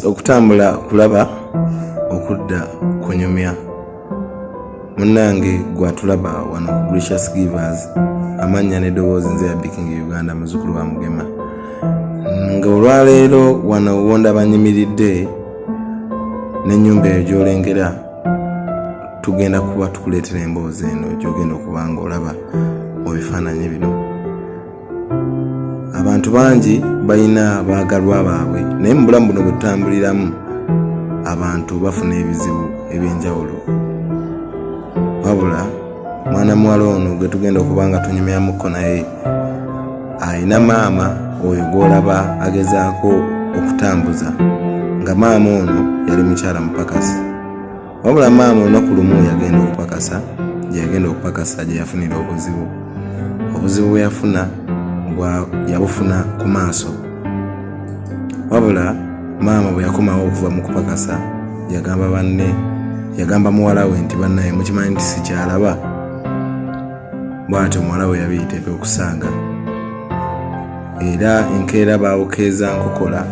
okutambula kulaba okudda kunyumya munnange gwatulaba wano ku gracious givers amannya n'eddoboozi nze yabikinga uganda muzukulu wa mugema nga olwaleero wano wonda banyimiridde n'ennyumba eyo gyolengera tugenda kuba tukuleetera emboozi eno gyogenda okuba nga olaba mu bifaananyi bino abantu bangi balina baagalwa baabwe naye mu bulamu buno bwetutambuliramu abantu bafuna ebizibu ebyenjawulo wabula mwana muwala ono gwe tugenda okuba nga tunyumyamuko naye alina maama oyo gwolaba agezaako okutambuza nga maama ono yali mukyala mupakasi wabula maama olunaku lumu yagenda okupakasa gye yagenda okupakasa gye yafunira obuzibu obuzibu bwe yafuna yabufuna ku maaso wabula maama bwe yakomawo okuva mu kupakasa yagamba banne yagamba muwala we nti bannaye mukimanyi nti sikyalaba bwatyo muwala we yabiyiteka okusanga era enkeera baabukeeza nkokola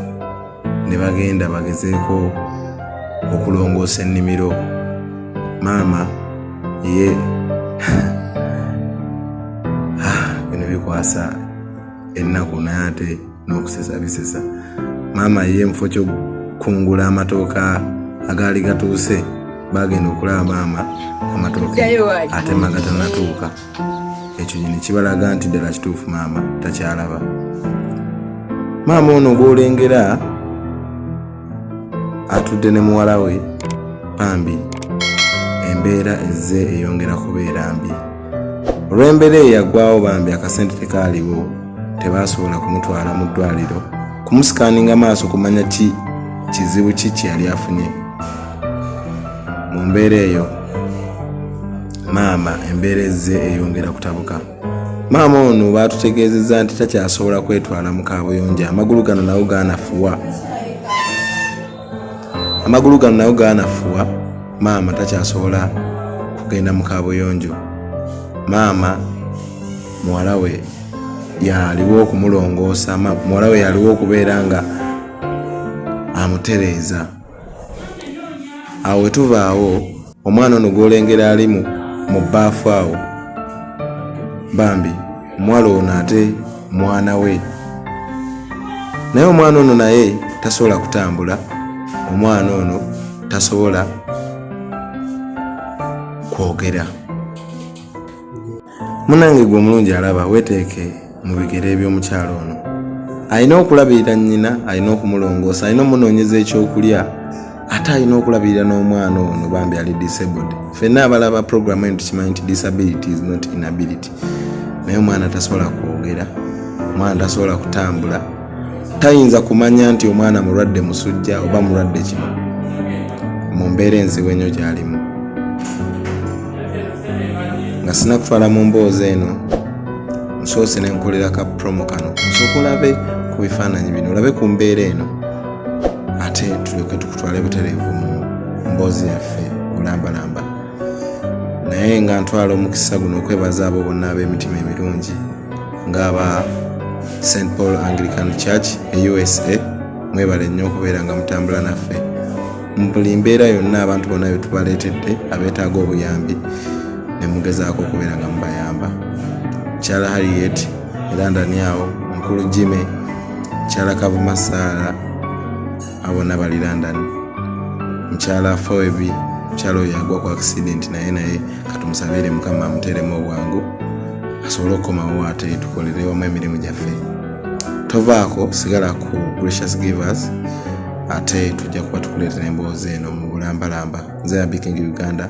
ne bagenda bagezeeko okulongoosa ennimiro maama ye ah, bino bikwasa ennaku naye ate n'okusesa bisesa maama ye mufo kyokungula amatooka agaali gatuuse bagenda okulaba maama amatooke atema gatanatuuka ekyo nyini kibalaga nti ddala kituufu maama takyalaba maama ono gwolengera atudde ne muwala we bambi embeera ezze eyongera kubeera mbi olw'embeera eyagwawo bambi akasente tekaaliwo tebaasobola kumutwala mu ddwaliro kumusikaninga maaso kumanya ki kizibu ki kyeyali afunye mu mbeera eyo maama embeera ezze eyongera kutabuka maama ono baatutegeezezza nti takyasobola kwetwala mu kaabuyonjo amagulu gano nawo gaanafuwa amagulu gano nawo gaanafuwa maama takyasobola kugenda mu kaabuyonjo maama muwala we yaliwo okumulongoosa muwala we yaliwo okubeera nga amutereeza awo wetuvaawo omwana ono gwolengera ali mu bbaafu awo bambi omuwala ono ate mwana we naye omwana ono naye tasobola kutambula omwana ono tasobola kwogera munange gwe omulungi alaba weteeke mu bigere eby'omukyalo ono alina okulabirira nnyina alina okumulongoosa alina omunoonyeza ekyokulya ate alina okulabirira n'omwana ono bambi ali disabled fenna abalaba programu eno tukimanyi nti disability is not inability naye omwana tasobola kwogera omwana tasobola kutambula tayinza kumanya nti omwana mulwadde musujja oba mulwadde kino mu mbeera enzibu enyo gyalimu nga sina kutwala mu mboozi eno nsoose ne nkolera ka promo kano nsooka olabe ku bifaananyi bino olabe ku mbeera eno ate tuleke tukutwala butereevu mu mboozi yaffe olambalamba naye nga ntwala omukisa guno okwebaza abo bonna ab'emitima emirungi ng'aba st paul anglican church e usa mwebale nnyo okubeera nga mutambula naffe mu buli mbeera yonna abantu bonna be tubaleetedde abeetaaga obuyambi ne mugezaako okubeera nga mubayamba kyala harriet erandaniawo mukulu jime kyala kavuma saara abona bali london mukyala afoebi mukyala oyo agwa ku accident naye naye katumusabire mukama amuteremu obwangu asobole okukomawo ate tukolerewamu emirimu gyaffe tovaako sigala ku gracious givers ate tujja kuba tukuleetera emboozi eno mu bulambalamba nze abikingi uganda